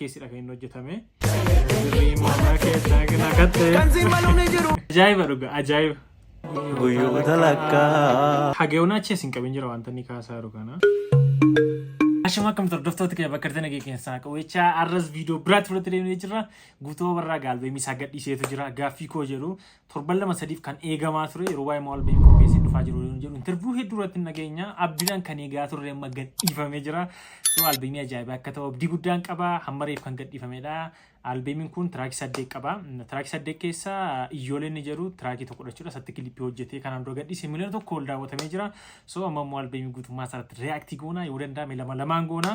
keessidha kan inni hojjetame. Ajaa'iba dhuga ajaa'iba. Guyyoota lakkaa. Hageewwan achi isin qabin jira wanta inni kaasaa jiru kana. Ashama akkam hordoftoota kee bakka argatan eegee keessaa qabeecha arras viidiyoo biraatti fudhattee deemnee jirra. Guutuu barraa gaalbeemii isaa gadhiiseetu jira. Gaaffii koo jedhu torban lama sadiif kan eegamaa ture yeroo waa'ee maal beeku qopheessee dhufaa jiru yoon jedhu interviyuu hedduu irratti hin dhageenya abdiidhaan kan eegaa turre amma gadhiifamee jira so albeemii ajaa'ibaa akka ta'u abdii guddaan qaba hamma reef kan gadhiifamedha albeemiin kun tiraakii saddeet qaba tiraakii saddeet keessa iyyooleen ni jedhu tiraakii tokko jechuudha isatti kilippii hojjetee kanaan dura gadhiise miliyoona tokko ol daawwatamee jira so amma immoo albeemii guutummaa isaarratti reaaktii goona yoo danda'ame lama lamaan goona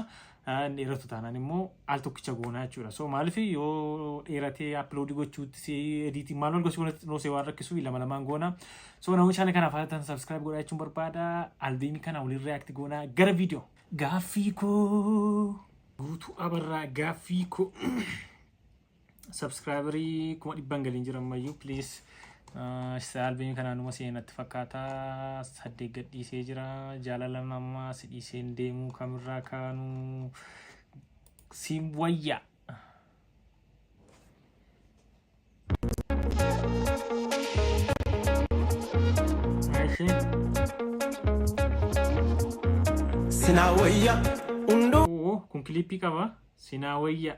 dheeratu taanaan immoo al tokkicha goonaa jechuudha. So maaliif yoo dheeratee upload gochuutti si ediitii maal gosi walitti xinnoosee waan rakkisuuf lama lamaan goona. So namoonni chaanal kanaaf haatan subscribe godhaa jechuun barbaada. Albeemii kana waliin react goona gara viidiyoo. Gaaffii koo guutuu abarraa gaaffii koo. Subscriberii kuma dhibban galiin jira ammayyuu please. Isa albeemii kanaan dhuma seenatti fakkaata. Saddeet gad dhiisee jira. Jaalala namaa si dhiiseen deemuu kamirraa kaanuu siin wayya. Eshi. Sinaa wayya hunduu. Oo kun kiliippii qaba. Sinaa wayya.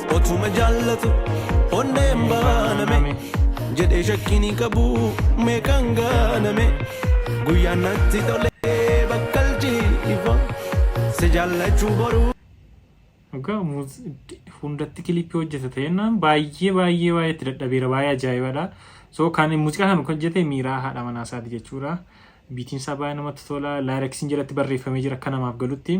Otuma jaallatu onneen baaname jedhee shakkiin hin qabu meeqaan gaaname guyyaan natti tolee bakkalchii ifa si jaallachuu boruu. Dhugaa muuz hundatti kilipii hojjeta ta'ennaan baay'ee baay'ee baay'ee itti dadhabeera baay'ee ajaa'ibadha. So kan muuziqaa kan kan hojjete miiraa haadha manaa isaati jechuudha. Biitiin isaa baay'ee namatti tola. Laayiraksiin jalatti barreeffamee jira akka namaaf galutti.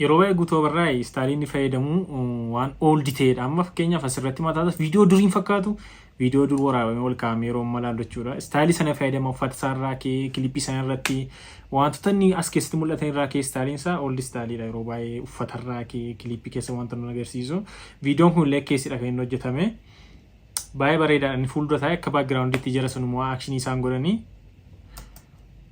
Yeroo baay'ee guutuu abarraa istaaliin ni fayyadamu waan ooldi ta'edha. Amma fakkeenyaaf asirratti mataa viidiyoo duriin fakkaatu viidiyoo dur waraabamee ol kaa'amee yeroo amma ilaallu jechuudha. Istaalii sana fayyadama uffata isaa irraa kee kilipii sana irratti wantoota inni as keessatti mul'atan irraa kee istaaliin isaa ooldi istaaliidha. Yeroo baay'ee uffata irraa kee kilipii keessa wanta nu agarsiisu. Viidiyoon kun illee keessidha kan inni hojjetame. Baay'ee bareedaadha. Inni fuuldura taa'ee akka baakgiraawundiitti jara sun immoo akshinii isaan godhanii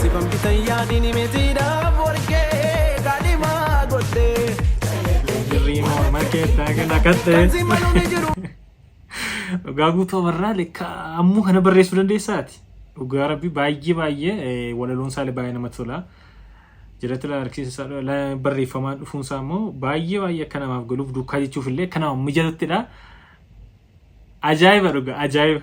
Sifan bitan yaadini metiidhaaf warqee kaadhimaa godhee. Jirrii morma keessaa kan hakatte. Kan si maluun jiru. Dhugaa guutuu abarraa lekka ammuu kana barreessuu dandeessaati. Dhugaa rabbi baay'ee baay'ee eh, walaloon isaa baay'ee namatti tola. Jiratti la harkisa isaa la barreeffamaa dhufuun isaa immoo baay'ee baay'ee akka namaaf galuuf duukaa jechuuf illee akka namaaf mijatuttidha. Ajaa'iba dhugaa ajaa'iba.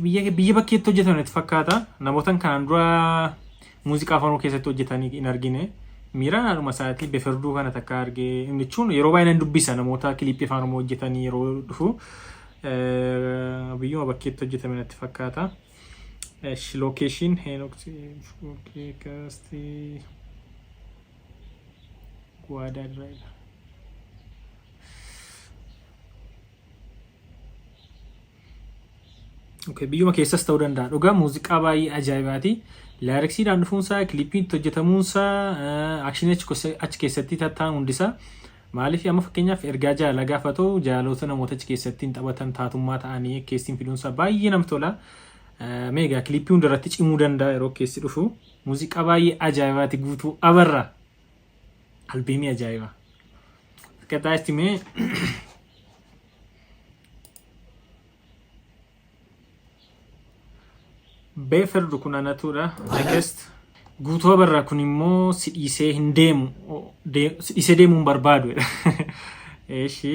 Biyya bakkeetti hojjetan itti fakkaata. Namoota kanaan dura muuziqaa afaan oromoo keessatti hojjetan hin argine. Miiraan haadhuma isaatii beferduu kana takka argee jechuun yeroo baay'ee nan dubbisa namoota kiliippii afaan oromoo hojjetanii yeroo dhufu biyyuma bakkeetti hojjetame natti fakkaata. Lookeeshiin Heenoksi Kaastii Guwaadaa Diraayila. Okay, biyyuma keessas ta'uu danda'a. Dhugaa muuziqaa baay'ee ajaa'ibaati. Laayiriksiidhaan dhufuunsaa, kiliippiin itti hojjetamuunsaa, akshinii achi keessa- achi keessatti tattaa'an hundisaa. Maaliif amma fakkeenyaaf ergaa jaalalaa gaafa ta'u jaalaloota namoota achi keessatti hin taphatan taatummaa ta'anii keessin fiduunsaa baay'ee namatti tola. Eh, Mee egaa kiliippii hundarratti cimuu danda'a yeroo keessi dhufu. Muuziqaa baay'ee ajaa'ibaati guutuu abarra. Albeemii ajaa'iba. Akkataa itti mee beeferdu kun anatuudha. I guess guutuu barraa kun immoo si dhiisee hin deemu. O- de- Si dhiisee deemuu hin barbaadu. Eeshi.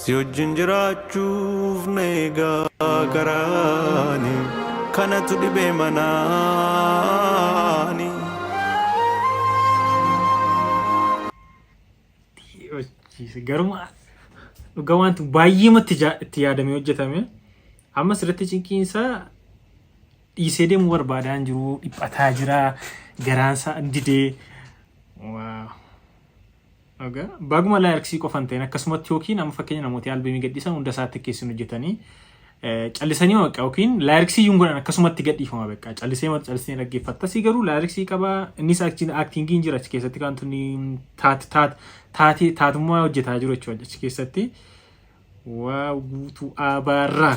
Si wajjin jiraachuuf na eegaa karaani kanatu dhibee manaani. Hojiise garuma dhugaa wanti baay'eematti ja- itti yaadamee hojjetame amma sirriitti cinqiin isaa dhiisee deemuu barbaadaa hin jiru dhiphataa jira garaan isaa didee waa Aga baguma lyrics qofa hin ta'in akkasumatti yookiin amma fakkeenya namooti albemii gadhiisan hunda isaa tikkeessin hojjetanii eh, callisanii ma beqqaa yookiin lyrics iyyuu hin godhan akkasumatti gadhiifama beqqaa callisee ma callisee dhaggeeffatta si garuu lyrics qaba innis achi actingii hin jira achi keessatti kan tunni taat taat taatee taatummaa hojjetaa jiru jechuudha achi keessatti waa guutuu abaarraa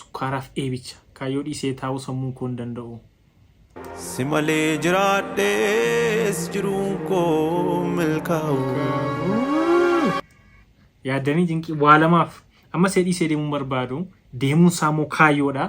Sukkaaraaf eebicha. Kaayyoo dhiisee taa'uu sammuun koo hin danda'u. Si malee jiraadhees jiruun koo milkaa'u. Yaaddanii cinqii waa lamaaf. Amma see dhiisee deemuun barbaadu. Deemuun isaa immoo kaayyoodha.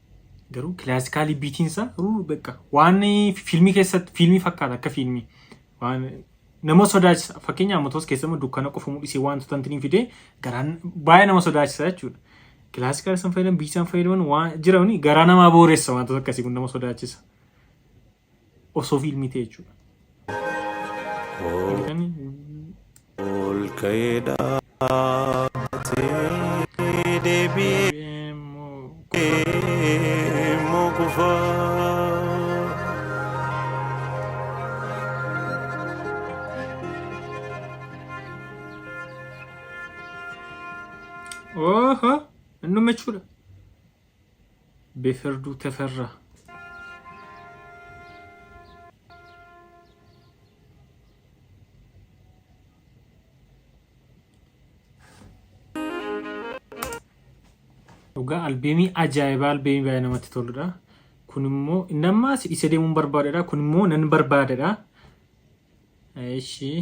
Garuu kilaasikaalii biitiinsa ruu beeka. Waan fiilmii keessatti fiilmii fakkaata akka fiilmii. Waan nama sodaachisa. Fakkeenyaaf motoos keessama dukkana qofa mul'isee wantoota hin fidee garaan baay'ee nama sodaachisa jechuudha. Kilaasikaal san fayyadaman biitisaan fayyadaman waan jirani garaa namaa booressa wantoota akkasii kun nama sodaachisa. Osoo fiilmii ta'e jechuudha. Argitanii? Ol ka'ee dhaabbatee deebi'ee Deemuu immoo kufaa. Oho! Innuma jechuudha. Beferduu Teferra. Dhugaa albeemii ajaa'ibaa albeemii baay'ee namatti toludha. Kun immoo inni ammaa si dhiisee deemuun barbaadedha. Kun immoo nan barbaadedha. Ishii.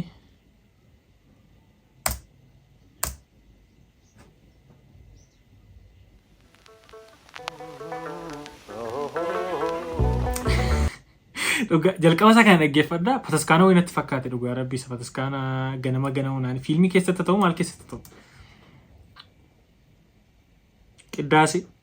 Dhugaa jalqaba isaa kana dhaggeeffadha. Pataskaana wayii natti fakkaate dhugaa rabbii isa pataskaana ganama ganama naan fiilmii keessatti ta'u maal keessatti ta'u. Qiddaasee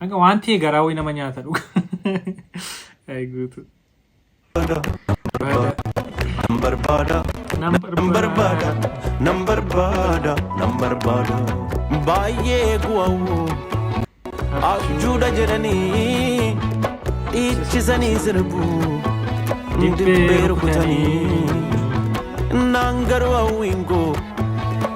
Hanga waan ta'e garaa wayii nama nyaata dhuga. Ayi guutu. Baada. Nan barbaada, Nan nan barbaada, nan barbaada, nan barbaada. Baay'ee guwawoo abjuudha jedhanii dhiichisanii sirbu dibbee rukutanii naan garuu hawwiin koo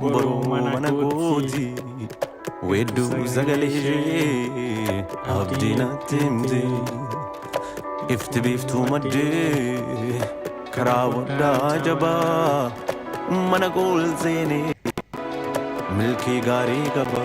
Boruu mana kooti Weedduu sagalee ishee Abdii natti himti Ifti biiftuu maddee Karaa waddaa jabaa Mana kool seenee Milkii gaarii qaba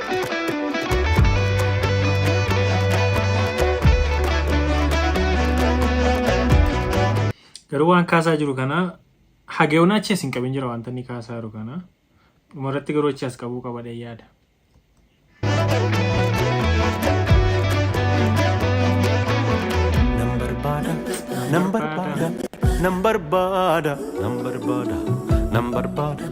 Garuu waan kaasaa jiru kana hageewwan achi as hin qabin jira wanta inni kaasaa jiru kana. Dhumarratti garuu achi as qabuu qaba dha yaada. Nan barbaada, nan barbaada, nan barbaada, nan barbaada, nan barbaada.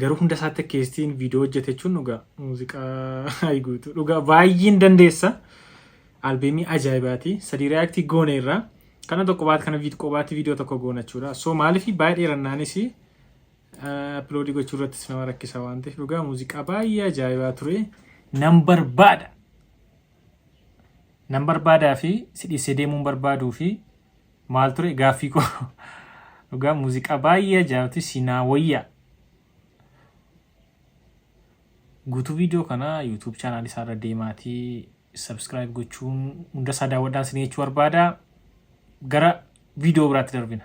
Garuu hunda isaatti keessattiin viidiyoo hojjete jechuun dhugaa muuziqaa guutuu dhugaa baay'een dandeessa. Albeemii ajaa'ibaati. Sadii reaaktii goone irraa kana tokko baat kana viid qobaatti viidiyoo tokko goona jechuudha. So maaliif baay'ee dheerannaanis appiloodii gochuu irrattis nama rakkisa waan ta'eef dhugaa muuziqaa baay'ee ajaa'ibaa ture. Nan barbaada. Nan barbaadaa fi si dhiisee deemuun barbaaduu fi Maal ture gaaffii koo dhugaa muuziqaa baay'ee ajaa'ibatu sinaa wayyaa. Guutuu viidiyoo kana YouTube chaanaal isaa irra deemaatii subscribe gochuun hunda isaa daawwadhaan sin jechuu barbaada. Gara viidiyoo biraatti darbina.